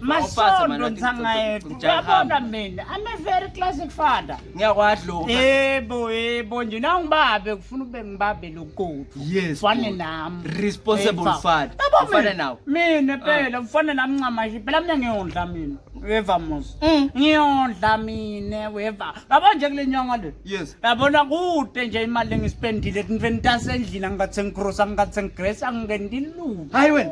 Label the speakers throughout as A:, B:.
A: masondo
B: nsangayedu uyabona mina ame very classic father ngiyakwadloka
A: yebo yebo
B: nje nangibabe kufuna ube ngibabe lokuthi yes fane
A: nami
B: responsible
A: father ufana nawe mina ah. phela
B: ufana nami ncamashi phela mina ngiyondla mina weva musa mm. ngiyondla mina weva yabo nje kule nyanga le yes yabona
A: kude
B: nje imali engisipendile kunveni tasendlini angingathi sengikrosa angingathi sengigresa angingendi lutho hayi wena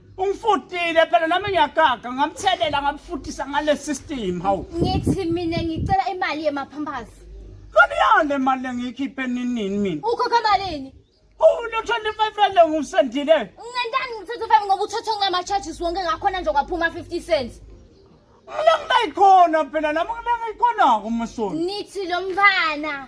B: Ungifutile phela nami ngiyagaga ngamthelela ngamfutisa ngale system hawu. Ngithi mina
C: ngicela imali yemaphampers. Kani yale
B: mali engiyikhiphe nini mina? Ukhokha malini?
C: Ulo 25
B: rand ngusendile. Ngentani ngithatha
C: 5 ngoba uthatha ngama charges wonke ngakhona nje kwaphuma 50 cents. Mina
B: ngilayikhona phela nami mina ngiyikhona kumusoni. Nithi lo mfana